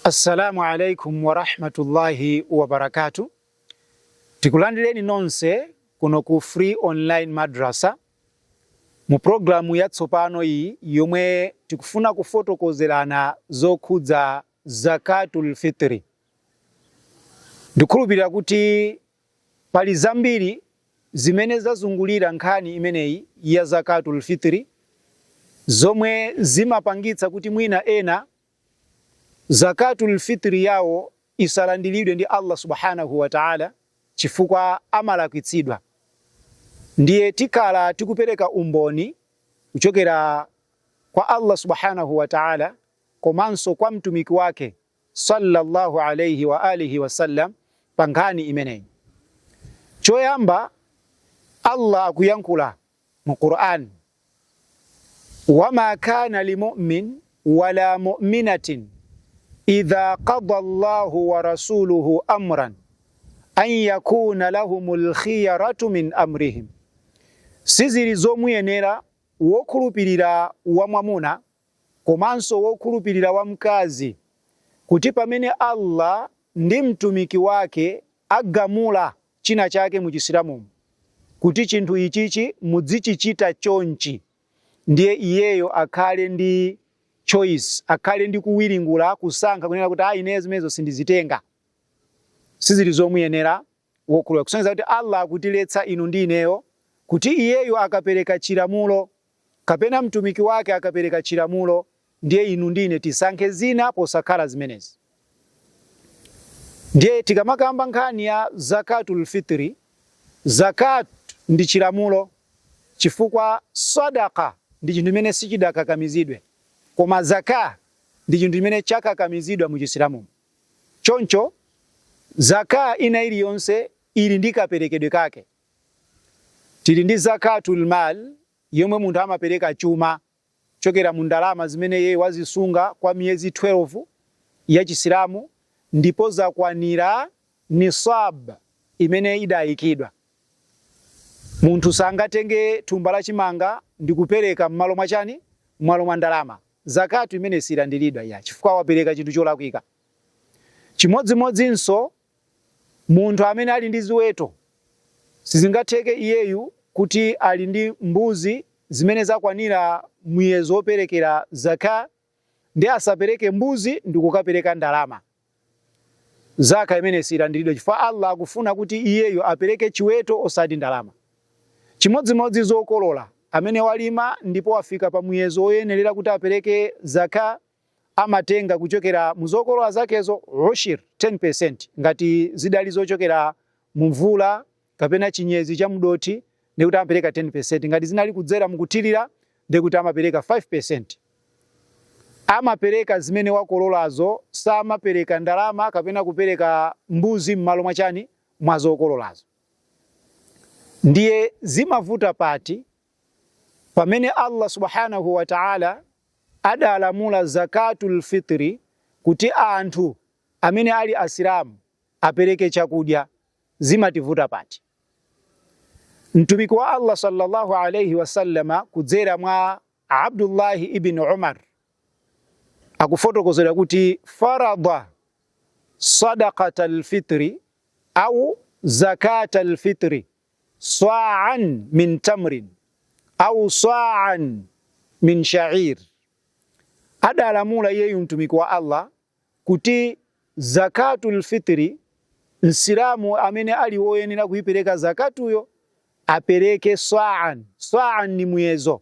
Assalamu alaikum warahmatullahi wabarakatuh. Tikulandireni nonse kuno ku Free Online Madrasa mu programu yatsopano iyi yomwe tikufuna kufotokozerana zokhudza zakatul fitri. Ndikhulupirira kuti pali zambiri zimene zazungulira nkhani imeneyi ya zakatul fitri zomwe zimapangitsa kuti mwina ena Zakaatul Fitr yawo isalandiridwe ndi Allah Subhaanahu wa Ta'ala chifukwa amalakwitsidwa. Ndiye tikhala tikupereka umboni kuchokera kwa Allah Subhaanahu wa Ta'ala komanso kwa Mtumiki wake sallallahu alayhi wa alihi wasallam pa nkhani imeneyi. Choyamba Allah akuyankhula mu Qur'an wama kana limumin wala muminatin idha qada llahu wa rasuluhu amran an yakuna lahumul khiyaratu min amrihim sizili zomuyenera wokhulupirira wamwamuna komanso wokhulupirira wamkazi kuti pamene allah ndi mtumiki wake agamula china chake mu Chisilamumo kuti chinthu ichichi mudzichichita chonchi, ndiye iyeyo akhale ndi choice, akhale ndi kuwiringula, kusankha kunena kuti aa ineyo zimenezo sindizitenga. Sizili zomuyenera wokhulupirira kusonyeza kuti Allah akutiletsa inu ndi ineyo kuti iyeyo akapereka chilamulo Kapena mtumiki wake akapereka chilamulo ndiye inu ndi ine tisankhe zina posakhala zimenezi? Ndiye tikamakamba nkhani ya Zakaatul Fitri, Zakaat ndi chilamulo chifukwa Sadaqah ndi chinthu chimene sichidakakamizidwe koma Zakaah ndi chinthu chimene chakakamizidwa mu Chisilamumo. Choncho Zakaah ina iliyonse ili ndi kaperekedwe kake. Tili ndi Zakaatul Maal yomwe munthu amapereka chuma kuchokera mu ndalama zimene iyeyo wazisunga kwa miyezi 12 ya Chisilamu ndipo zakwanira Nisaab imene idaikidwa. Munthu sangatenge thumba la chimanga ndikupereka mmalo mwa chani? Mmalo mwa ndalama. Zakaat imeneyi siyilandiridwa iyayi chifukwa wapereka chinthu cholakwika. Chimodzimodzinso Munthu amene ali ndi ziweto, sizingatheke iyeyu kuti ali ndi mbuzi zimene zakwanira muyezo woperekera Zakaah ndiye asapereke mbuzi ndikukapereka ndalama. Zakaah imeneyi siyilandiridwa chifukwa Allah akufuna kuti iyeyu apereke chiweto osati ndalama. Chimodzimodzi zokolola, amene walima ndipo wafika pa muyezo woyenerera kuti apereke Zakaah, amatenga kuchokera mu zokolola zakezo ushir 10% ngati zidali zochokera mu mvula kapena chinyezi cha mdothi nde kuti amapereka 10% ngati zinali kudzera mukuthirira nde kuti amapereka 5% amapereka zimene wakololazo samapereka ndalama kapena kupereka mbuzi m'malo mwa chani mwa zokololazo ndiye zimavuta pati Pamene Allah Subhaanahu wa Ta'ala adalamula Zakaatul Fitri kuti anthu amene ali Asilamu apereke chakudya, zimativuta pati? Mtumiki wa Allah sallallahu alayhi wasallama kudzera mwa Abdullah ibn Umar akufotokozedwa kuti farada sadaqatal fitri au zakatal fitri sa'an min tamrin au sa'an min sha'ir adalamula iyeyu mtumiki wa Allah kuti zakatul fitri msilamu amene ali woyenera kuipereka zakatuyo apereke sa'an sa'an ndi muyezo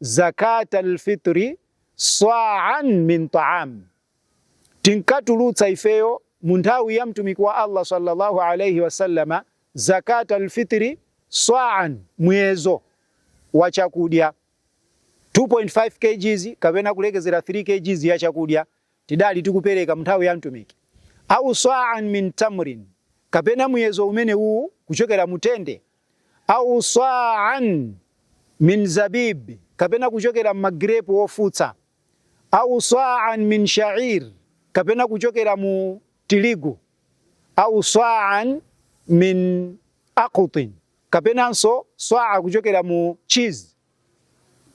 Zakaat al-Fitri Sa'an min ta'am, tinkatulutsa ifeyo mu nthawi ya Mtumiki wa Allah sallallahu alayhi wasallama Zakaat al-Fitri Sa'an, muyezo wa chakudya 2.5 kgs kapena kulekezera 3 kgs ya chakudya tidali tikupereka mu nthawi ya Mtumiki, au sa'an min tamrin, kapena muyezo umene uwu kuchokera mu tende au sa'an min zabib, kapena kuchokera m'magirepu ofutsa, au sa'an min sha'ir, kapena kuchokera mu tiligu, au sa'an min aqitin, kapenanso swa'a kuchokera mu cheese.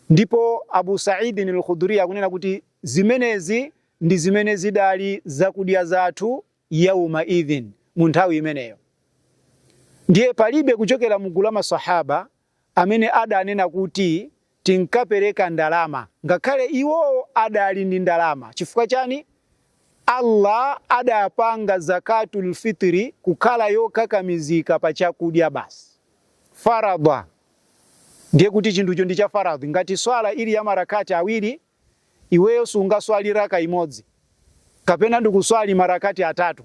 Ndipo Abu Sa'idin al-Khudri akunena kuti zimenezi ndi zimene zidali zakudya zathu yawma idhin, mu nthawi imeneyo. Ndiye palibe kuchokera mu gulu la maswahaba amene adanena kuti tinkapereka ndalama, ngakhale iwowo adali ndi ndalama. Chifukwa chani? Allah adapanga zakatul fitri kukhala yokakamizika pa chakudya basi, faradha ndiye kuti chinthucho ndi cha faradhi. Ngati swala ili ya marakati awiri, iweyo sungaswali raka imodzi kapena ndikuswali marakati atatu,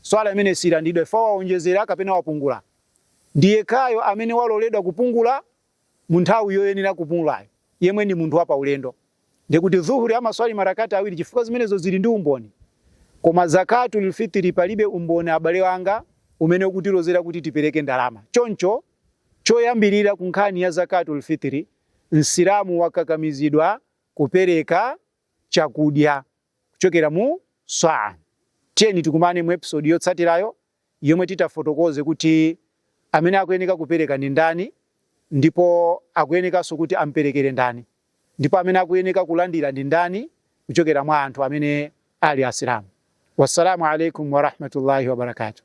swala imeneyo siyilandidwa fa waonjezera kapena wapungula. Ndi yekhayo amene waloledwa kupungula mu nthawi yoyenera kupungulayo, yemwe ndi munthu wapaulendo. Nde kuti dhuhuri amaswali marakati awiri chifukwa zimenezo zili ndi umboni. Koma zakatul fitiri palibe umboni abale anga umene ukutilozera kuti tipereke ndalama. Choncho choyambirira ku nkhani ya zakatul fitiri Msilamu wakakamizidwa kupereka chakudya kuchokera mu swaa. Tiyeni tikumane mu episode yotsatirayo yomwe titafotokoze kuti amene akuyeneka kupereka ndi ndani ndipo akuyenekanso kuti amperekere ndani ndipo amene akuyeneka kulandira ndi ndani kuchokera mwa anthu amene ali Asilamu. Wassalamu alaikum warahmatullahi wabarakatuh.